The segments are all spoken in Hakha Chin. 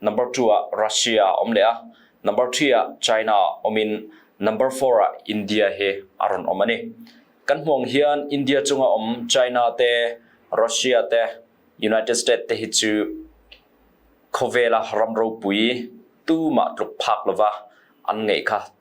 number two ah Russia um le a number three ah China um in number four ah India he aron om ani kan hmuang hian India chunga om China te Russia te United States te hi chu khowela ram ropui tu ma tluk phak lova an ngei kha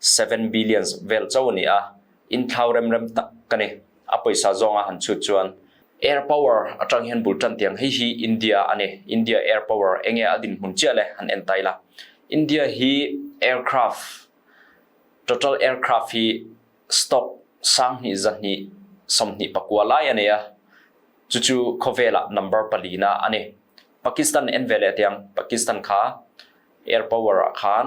7 billions vel co ni a in thau remrem tak kani a poisa zonga han chu chuan air power atang hian bul tan tiang hei hi India ani India air power enge adin mun chia le han en taila India hi aircraft total aircraft hi stock sang hi za ni som ni pakwa lai ani a chu chu khowela number pali na ani Pakistan en vele tiang Pakistan kha air power khan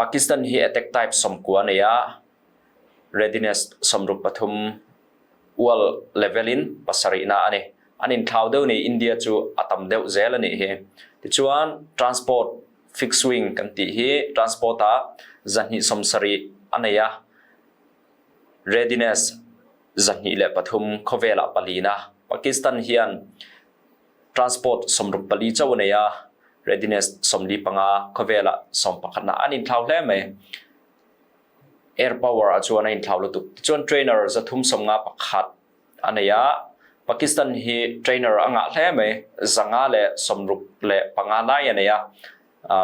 Pakistan hi a tek type somkua nei ah readiness sawmruk pathum ual level in pasarihnak ani. An in thlau deuh ni India cu a tam deuh zel ani hi. Tichuan transport fixed wing kan ti hi transport ah zahnih somsari anei a readiness zahnih le pathum khawvel ah pali na Pakistan hian transport sawmruk pali co a nei a readiness sawmli panga khawvel ah sawm pakhat na an in thlau hle mai air power a chuan a in thlau lutuk tichuan trainer za thum som nga pakhat a nei a Pakistan hi trainer a ngah hle mai zanga le sawmruk le panga nai a nei a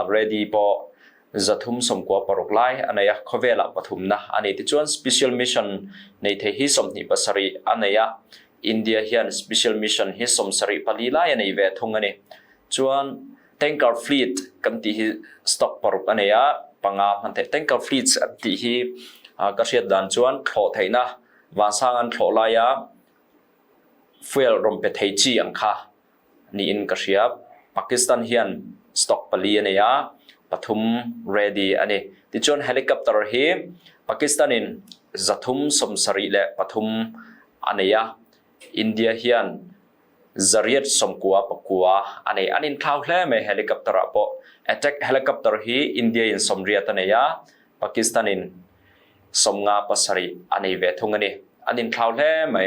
ready paw zathum somkua paruk lai anei a khawvel ah pathum na ani tichuan special mission nei the hi som hni pasari anei a India hian special mission hi som sari pali lai anei ve thung ani chuan tanker fleet kan ti hi stock paruk anei a panga man the tanker fleets an ti hi ka hriat dan chuan thlo theina wa sang an thlo lai a fuel rompe thei chi ang kha niin ka hriap. Pakistan hian stock pali an ei a, pathum ready an ei. Ticun helicopter hi Pakistan in zathum sawmsarih le pathum an ei a. India hian zariat sawmkua pakua an ei. An in thlau hle mai helicopter ah pawh. Attack helicopter hi India in sawmriat an ei a, Pakistan in sawmnga pasarih an ei ve thung ani. An in thlau hle mai.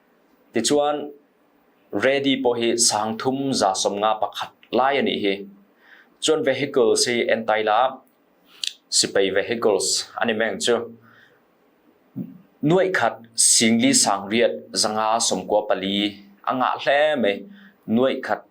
Ticun ready pawl hi sang thum za sawm nga pakhat lai an i hi. Cun vehicles hi an tai lak sipai vehicles an i meng cu. Nuaih khat singli sang riat zanga sawm kua pali a ngah hle mai. Nuaih khat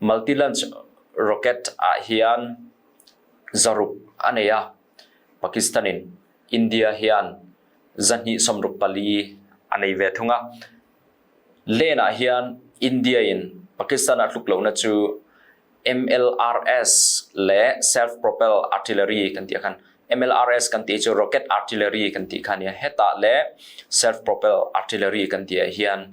Multi-launch rocket ahhin zaruk a nei a, Pakistan in India hian zahnih sawmruk pali a nei ve thung a. Len ahhin India in Pakistan a tluk lonak cu MLRS le self-propel artillery kan ti khan MLRS kan ti cu rocket artillery kan ti khan ya heta le self-propel artillery kan ti hian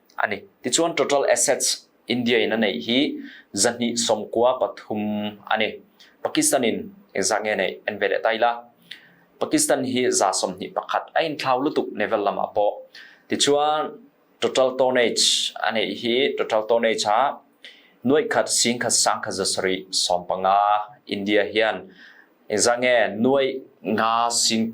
ani. Ticun total assets India in a neih hi zahnih som kua pathum ani. Pakistan in zange neih an ve le tai la. Pakistan hi za som hnih pakhat a in thlau lutuk naval lam a paw. Ticun total tonnage ane hi total tonnage ha nuai khat sing khat sang khat zasari som panga India hian zange nuai nga sing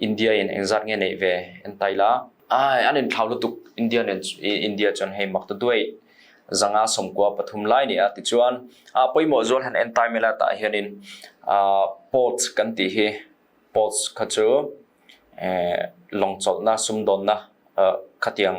India in engzat nge nei ve an tai la. Ai an in thlau lutuk India nen India chon hei mak tu duai. Zanga som kwa pathum lai ni a ti chuan a poi mo zual han en tai mela ta hian in ports kan ti hi ports kha chu long chol na sum don na khatiang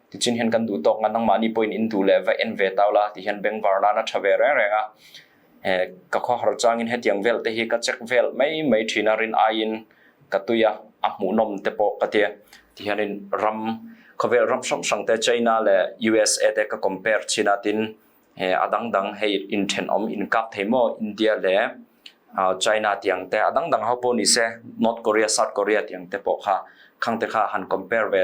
tichin hian kan duh tawk ngan nangmah ni poin in du le va en ve tau la ti hian bengvar la na tha ve reng reng a ka kho har changin hetiang vel te hi ka check vel mai mai thina rin aiin ka tuya a hmu nom te po ka tia ti hian in ram khawvel ram sang sang te China le USA te ka compare china tin adang dang hei in thenom in kap thei mo India le China tiang te adang dang ho po ni se North Korea South Korea tiang te po kha khang te kha han compare ve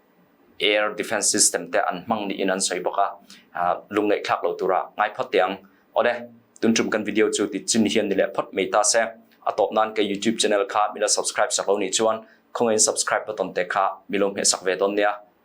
air defense system te an hmang ni in an soi bak ah lung ngeih thlak lo tura ngai phot tiang ode tun tum kan video chu ti chin hian ni le phot mei ta se atop nan ke youtube channel kha mila subscribe sak lo ni chuan khongen subscribe button te kha milom he sak ve don nia